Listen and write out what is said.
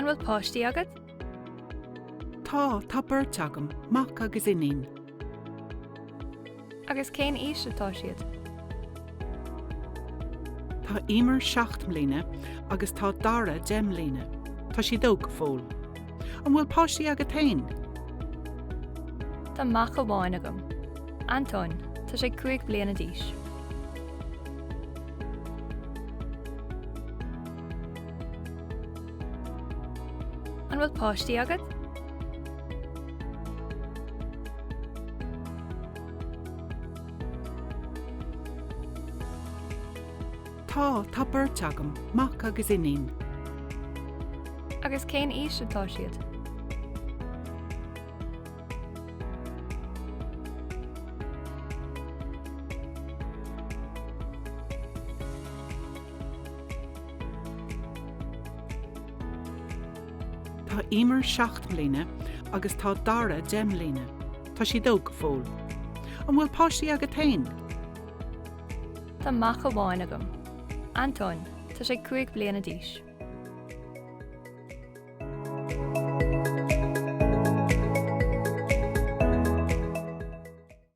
An bhfuil páistí agat? Tá, tá beirt agam, mac agus iníon. Agus cén aois atá siad? Tá Emer seacht mbliana agus tá Dara deich mbliana. Tá siad óg go fóill. An bhfuil páistí agat féin? Tá mac amháin agam. Antóin, tá sé cúig bliana d'aois. An bhfuil páistí agat? Tá, tá beirt agam, mac agus iníon. Agus cén aois atá siad? Tá Emer seacht mbliana agus tá Dara deich mbliana. Tá siad óg go fóill. An bhfuil páistí agat féin? Tá mac amháin agam. Antóin. Tá sé cúig bliana d'aois.